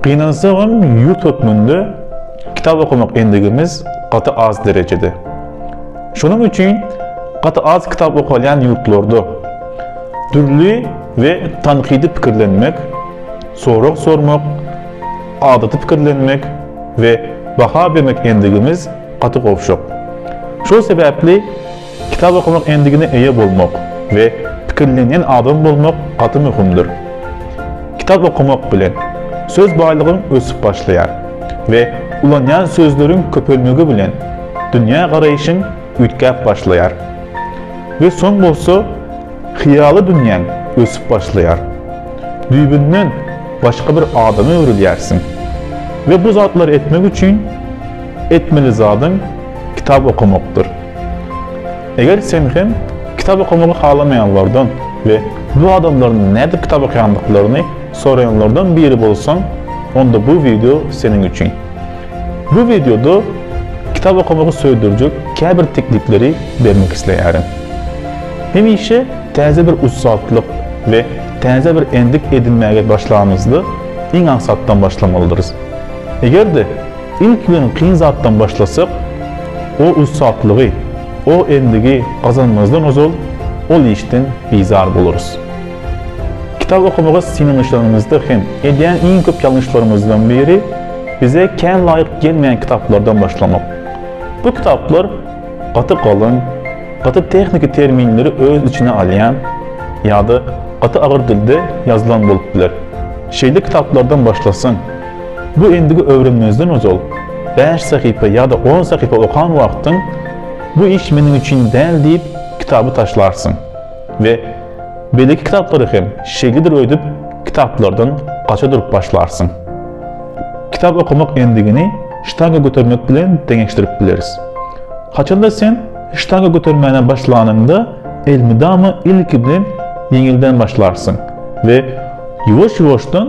Gynansagam, ýurt hökmünde kitap okamak endigimiz gaty az derejede. Şonuň üçin gaty az kitap okalýan ýurtlarda dürli we tankydy pikirlenmek, sorag sormak, adaty pikirlenmek we baha bermek endigimiz gaty gowşak. Şol sebäpli Kitap okamak endigine eýe bolmak we pikirlenýän adam bolmak gaty möhümdir. Kitap okamak bilen, söz baýlygyň ösüp başlaýar we ulanýan sözleriň köpelmegi bilen dünýä garaýşyň üýtgäp başlaýar we soň bolsa hyýaly dünýäň ösüp başlaýar. Düýbünden başga bir adama öwrülýärsiň we bu zatlary etmek üçin etmeli zadyň kitap okamakdyr. Eger sen hem kitap okamagy halamaýanlardan we bu adamlaryň nädip kitap okaýandyklaryny soraýanlardan biri bolsaň, onda bu wideo seniň üçin. Bu wideoda kitap okamagy söýdürjek käbir teklipleri bermek isleýärin. Hemişe täze bir ussatlyk we täze bir endik edinmäge başlamyzda iň aňsatdan başlamalydyrys. Eger-de Ilk bilen kyn zatdan başlasak, o ussatlygy, o endigi gazanmazdan ozal ol işden bizar bolarys. Kitap okamaga synanyşanymyzda hem edýän iň köp ýalňyşlarymyzdan biri bize kän laýyk gelmeýän kitaplardan başlamak. Bu kitaplar gaty galyň, gaty tehniki terminleri öz içine alýan ýa-da gaty agyr dilde ýazylan bolup biler. Şeýle kitaplardan başlasaň, Bu endigi öwrenmezden ozal, bäş sahypa ýa-da on sahypa okan wagtyň Bu iş meniň üçin däl diýip, kitaby taşlarsyň we beýleki kitaplary hem şeýledir öýdüp, kitaplardan gaça durup başlarsyň. Kitap okamak endigini ştanga götermek bilen deňeşdirip bileris. Haçanda sen ştanga götermäne başlanyňda elmydama ilki bilen ýeňilden başlarsyň we ýuwaş-ýuwaşdan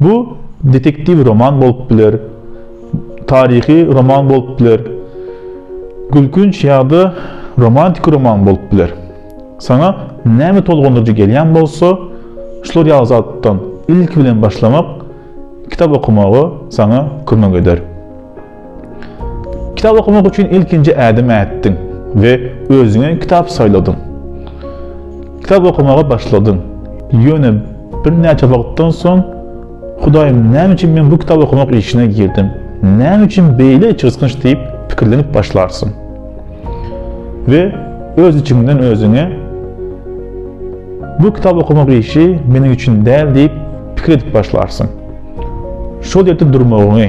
Bu detektiw roman bolup biler, taryhy roman bolup biler, gülkünç ýa-da romantiki roman bolup biler. Saňa näme tolgundyryjy gelýän bolsa, şular ýaly zatdan ilki bilen başlamak kitap okamagy saňa kömek eder. Kitap okamak üçin ilkinji ädim ätdiň we özüňe kitap saýladyň. Kitap okamaga başladyň. Ýöne birnäçe wagtdan soň, Hudaýym, näme üçin men bu kitap okamak işine girdim? Näme üçin beýle içgysgynç diýip pikirlenip başlarsyň. We öz içiňden özüňe, Bu kitap okamak işi meniň üçin däl diýip pikir edip başlarsyň. Şol ýerde durmagyňy,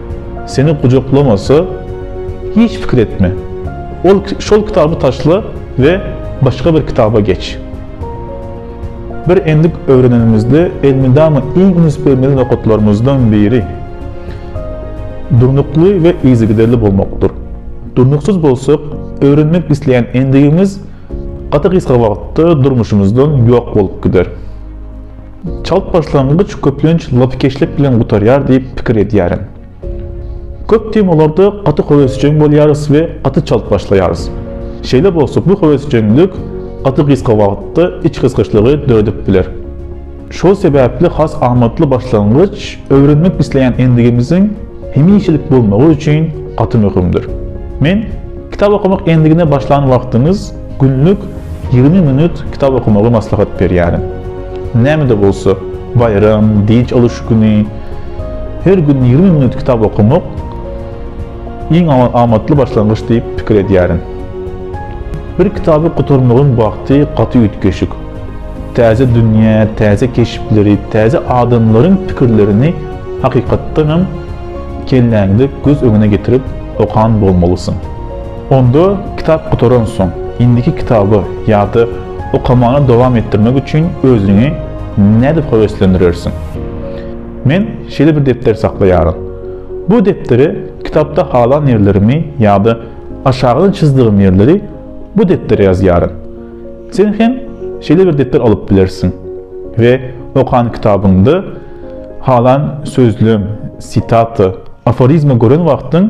Seni gujaklamasa, hiç pikir etme. Ol şol kitaby taşla we başga bir kitaba geç. Bir endik öwrenenimizde elmydama iň üns bermeli nokatlarymyzdan biri durnukly we yzygiderli bolmakdyr. Durnuksyz bolsak, öwrenmek isleýän endigimiz gaty gysga wagtda durmuşymyzdan ýok bolup gider. Çalt başlangyç köplenç lapykeçlik bilen gutarýar diýip pikir edýärin. Köp temalarda gaty höwesjeň bolýarys we gaty çalt başlaýarys. Şeýle bolsa bu höwesjeňlik gaty gysga wagtda içgysgyçlygy döredip biler. Şol sebäpli has amatly başlangyç öwrenmek isleýän endigimiziň hemişelik bolmagy üçin gaty möhümdir. Men kitap okamak endigine başlan wagtyňyz Günlük ýigrimi minut kitap okamagy maslahat berýärin. Näme-de bolsa, baýram, dynç alyş güni her gün ýigrimi minut kitap okamak iň amatly başlangyç diýip pikir edýärin. Bir kitaby gutarmagyň wagty gaty üýtgeşik. Täze dünýä, täze keşpleri, täze adamlaryň pikirlerini hakykatdanam kelläňde göz öňüne getirip okan bolmalysyň. Onda kitap gutaransoň, indiki kitaby ýa-da okamany dowam etdirmek üçin özüňi nädip höweslendirersiň? Men şeýle bir depder saklaýaryn. Bu depdere kitapda halan ýerlerimi ýa-da aşagydan çyzdygym ýerleri bu depdere ýazýaryn. Sen hem şeýle bir depder alyp bilersiň we okan kitabyňda halan sözlem, sitata, aforizma gören wagtyň,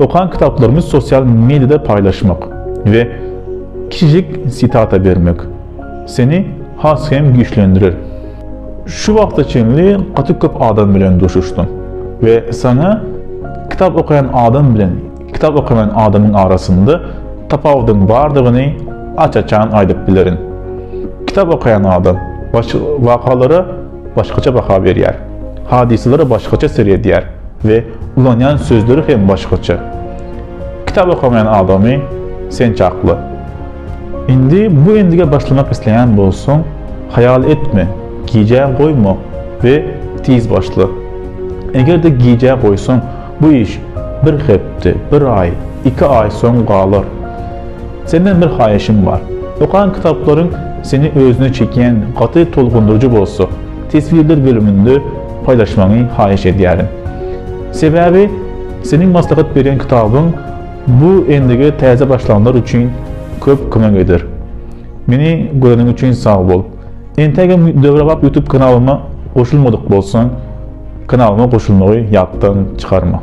Okan kitaplarymy sosial mediada paýlaşmak we kiçijik sitata bermek seni has hem güýçlendirer. Şu wagta çenli gaty köp adam bilen duşuşdyň we saňa kitap okaýan adam bilen kitap okamaýan adamyň arasynda tapawudyň bardygyny aç-açan aýdyp bilerin. Kitap okaýan adam wakalara başgaça baha berýär, hadysalara başgaça seredýär we ulanýan sözleri hem başgaça. Kitap okamaýan adamy sen çakla. Indi bu endige başlamak isleýän bolsaň, haýal etme, gijä goýma we tiz başla. Eger-de gijä goýsaň, bu iş bir hepde, bir aý, iki aý soň galar. Senden bir haýyşym bar. Okan kitaplaryň seni özüne çekýän gaty tolgundyryjy bolsa, teswirler bölüminde paýlaşmagyňy haýyş edýärin. Sebäbi seniň maslahat berýän kitabyň bu endige täze başlanlar üçin köp kömek eder. Meni göreniň üçin sag bol. Entägem Döwrebap YouTube kanalyma goşulmadyk bolsaň, kanalyma goşulmagy ýatdan çykarma.